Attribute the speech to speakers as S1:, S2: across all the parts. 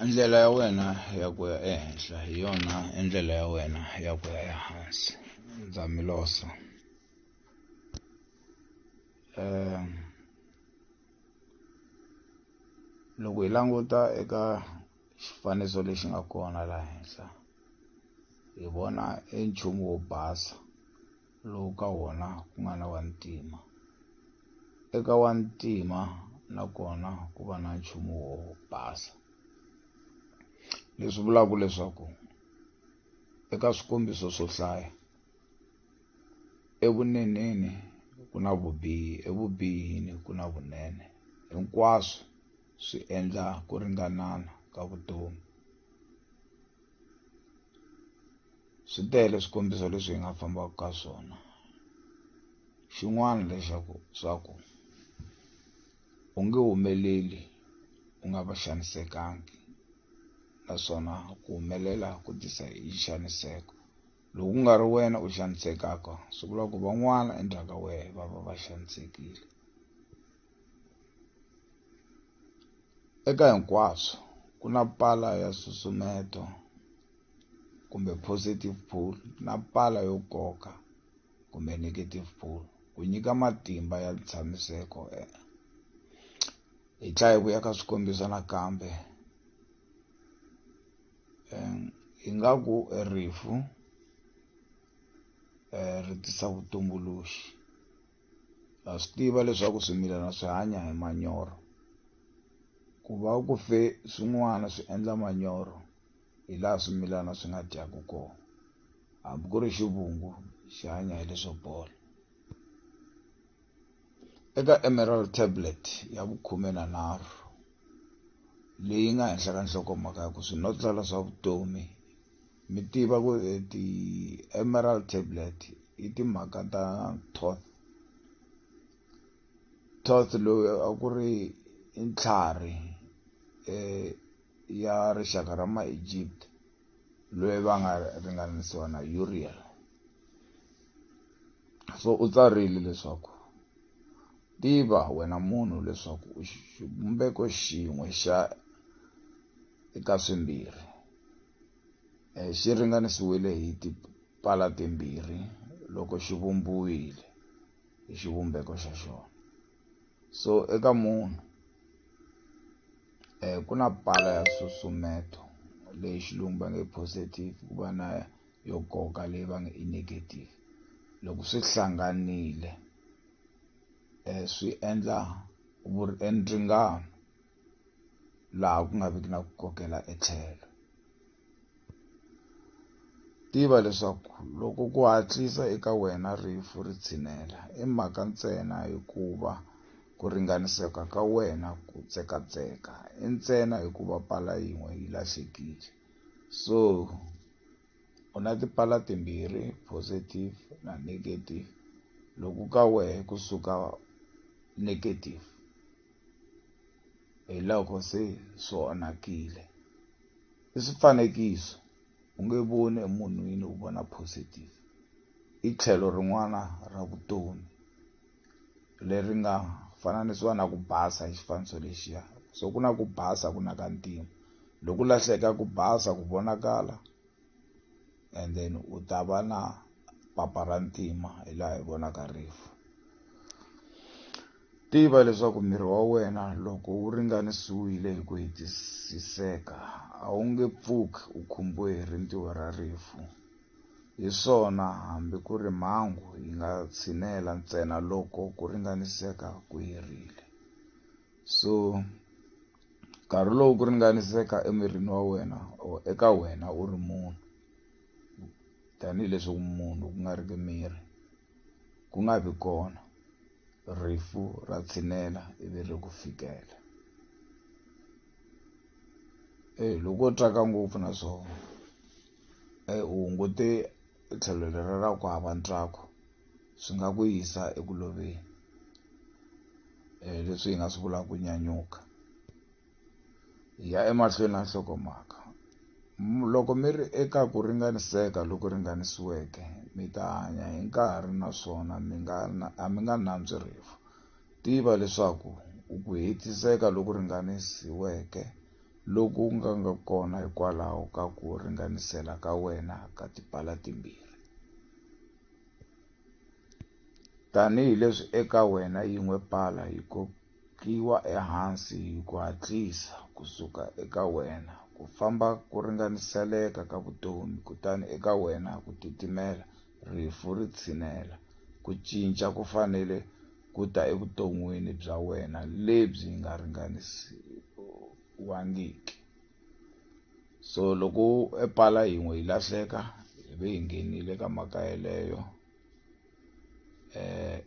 S1: ndlela ya wena ya ku ya ehenhla hi yona ndlela ya wena ya ku ya ehansi ndza mi losa um loko hi languta eka xifaniso lexi nga kona laha henhla hi vona e nchumu wo basa lowu ka wona ku nga na vantima. Eka wantima na kona ku va na nchumu wo basa. Leswi vulaka leswaku eka swikombiso swo hlaya evuneneni ku na vubihi evubihini ku na vunene hinkwaswo swi endla ku ringanana ka vutomi swi tele swikombiso leswi hi nga fambaka ka swona xin'wana lexaku swa ku u nge humeleli u nga va xanisekangi naswona ku humelela ku tisa hi xaniseko loko ku nga ri wena u xanisekaka swi vula ku van'wana endzhaku ka wehe va va va xanisekile Eka hinkwaswo ku na pala ya susumeto kumbe positive pull na pala yo koka kumbe negative pull ku nyika matimba ya ntshamiseko eh. hi tlhela hi vuya ka swikombiso nakambe eh, ingaku rifu eh, ri tisa vutumbuluxi ha swi tiva leswaku swimilana swi hanya hi manyoro ku va ku fe swin'wana swi endla manyoro hi laha swimilana swi nga dyaku kona hambi ku ri xivungu xi hanya hi leswo bola eka emerald tablet ya vukhume na nharhu leyi nga henhla ka nhlokomhaka ya ku swinotlala swa vutomi Mi tiva ku e ti-emerald tablet i timhaka ta Thoth. Thoth loyi a ku ri i ntlhari um ya rixaka ra ma-Egypt loyi va nga ringanisiwa na Uriel. So u tsarile leswaku, Tiva wena munhu leswaku u xivumbeko xin'we xa eka swimbirhi. xi ringanisiwile hi tipala timbirhi loko xi vumbiwile hi xivumbeko xa xona so eka munhu eh ku na pala ya susumeto leyi xilungu va nge positive ku va na yo koka leyi va nge i negative loko swi hlanganile eh swi endla endringano laha ku nga viki na ku kokela etlhelo tiva leswaku loko ku hatlisa eka wena rifu ri tshinela i mhaka ntsena hikuva ku ringaniseka ka wena ku tsekatseka i ntsena hikuva pala yin'we yi lahlekile so u na tipala timbirhi positive na negative loko ka wehe kusuka negative hi loko se swi onhakile i swifanekiso u nge voni emunhwini u vona positive i tlhelo rin'wana ra vutomi leri nga fananisiwa na ku basa hi xifaniso lexiya so ku na ku basa ku na ka ntima loko lahleka ku basa ku vonakala and then u ta va na papa ra ntima hi laha hi vonaka rifu tiva leswaku miri wa wena loko wu ringanisiwile hi ku hetisiseka a wu nge pfuki u khumbiwe hi rintiho ra rifu hi swona hambi ku ri mhangu yi nga tshinela ntsena loko ku ringaniseka ku herile so nkarhi lowu ku ringaniseka emirini wa wena or eka wena u ri munhu tanihileswi munhu ku nga ri ki miri ku nga vi kona rifu ra tshinela ivi ri ku fikela e loko u twaka ngopfu na swona e u hungute tlhelo lera ra ku hava ntswako swi nga ku yisa eku loveni um leswi hi nga swi vulaka ku nyanyuka hi ya emahlweni na nhlokomhaka loko mi ri eka ku ringaniseka loku ringanisiweke mi ta hanya hi nkarhi naswona mi nga a mi nga nantswi rifu tiva leswaku u ku hetiseka loku ringanisiweke loku nga nga kona hikwalaho ka ku ringanisela ka wena ka tipala timbirhi Tanihi leswi eka wena yin'we pala yi kokiwa ehansi hi ku hatlisa ku suka eka wena, ku famba ku ringaniseleka ka vutomi, kutani eka wena ku titimela, rifu ri tshinela, ku cinca ku fanele ku ta evuton'wini bya wena lebyi nga ringanisiwangiki. so loko e pala yin'we yi lahleka hi ve hi nghenile ka mhaka yeleyo eh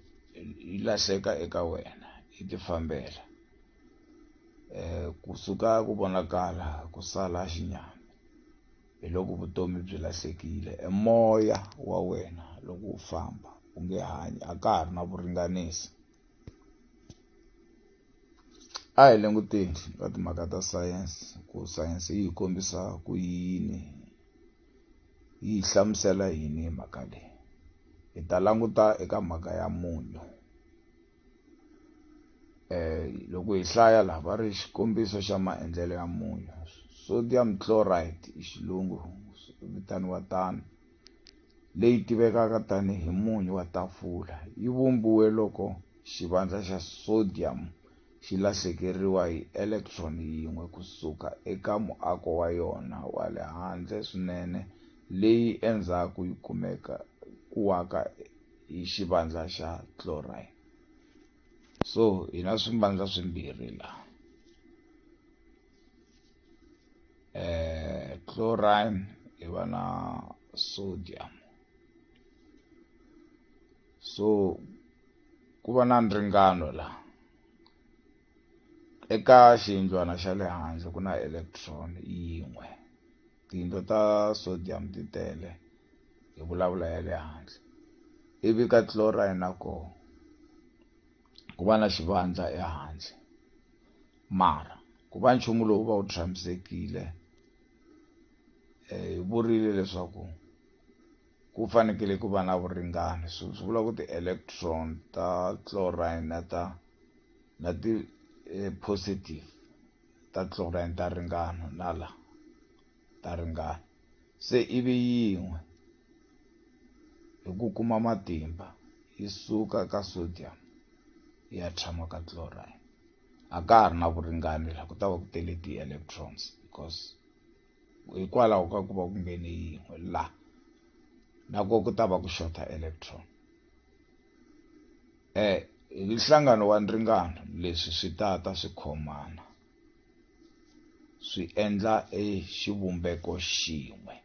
S1: yi lahleka eka wena yi tifambela eh kusuka ku vonakala ku sala xinyama hi loko vutomi byi lahlekile e moya wa wena loko u famba u nge hanyi a ka ha ri na vuringanisi a hi languteni ka timhaka ta sayense ku sayense yi hi kombisa ku yini yi hi hlamusela yini hi mhaka leyi hi ta languta eka mhaka ya munyu eh loko hi hlaya laha va ri xikombiso xa maendlelo ya munyu sodium chloride hi xilungu vitaniwa tano leyi tivekaka tanihi munyu wa tafula yi vumbiwe loko xivandla xa sodium xi lahlekeriwa hi electron yin'we ku suka eka muako wa yona wa le handle swinene leyi endzhaku yi kumiwaka hi xivandla xa chlorine eh, chlorine hi va na sodium so ku va na nringano la eka xiyindlwana xa le handle ku na electron yin'we tiyindlo ta sodium ti tele hi vulavula ya le handle ivi ka chlorine na koho ku va na xivandla ehandle Mara, ku va nchumu lowu va wu tshamisekile, hi vurile leswaku ku fanekele ku va na vuringani, swi vula ku ti-electron ta chlorine na ta na ti positive ta chlorine ta ringana na la ta ringana, se ivi yin'we hi ku kuma matimba yi suka ka sodium yi ya tshama ka chlorine. a ka ha ri na vuringani la ku ta va ku tele ti-electrons because hikwalaho ka ku va ku nghene yin'we la na ko ku ta va ku xota electron um hi nhlangano wa nringano leswi swi ta ta swi khomana swi endla e xivumbeko xin'we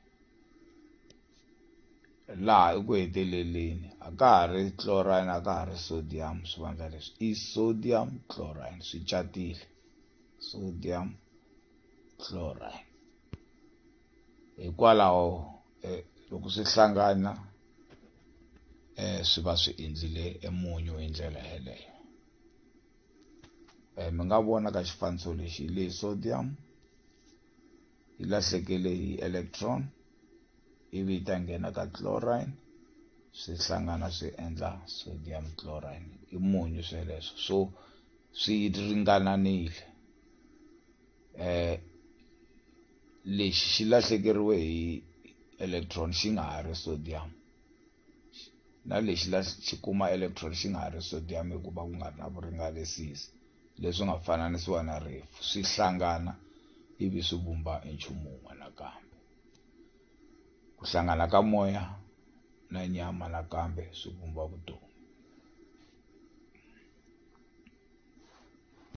S1: Laha eku heteleleni a ka ha ri chlorine a ka ha ri sodium swivandla leswi i sodium chlorine swi catile sodium chlorine hikwalaho eh, loko swi hlangana eh swi va swi endlile emunyu hi ndlela yeleyo eh mi nga vona ka xifaniso lexi le sodium yi lahlekele hi electron ivi yi ta nghena ka chlorine swi hlangana swi endla sodium chlorine i munyu sweleswo so swi ringananile eh lexi xi lahlekeriwe hi electron xi nga ha ri sodium na lexi xi kuma electron xi nga ha ri sodium hikuva ku nga ri na vuringanisisi leswi nga fananisiwa na rifu swi hlangana ivi swi vumba nchumu wun'we nakambe ku hlangana ka moya na nyama nakambe swi vumba vutomi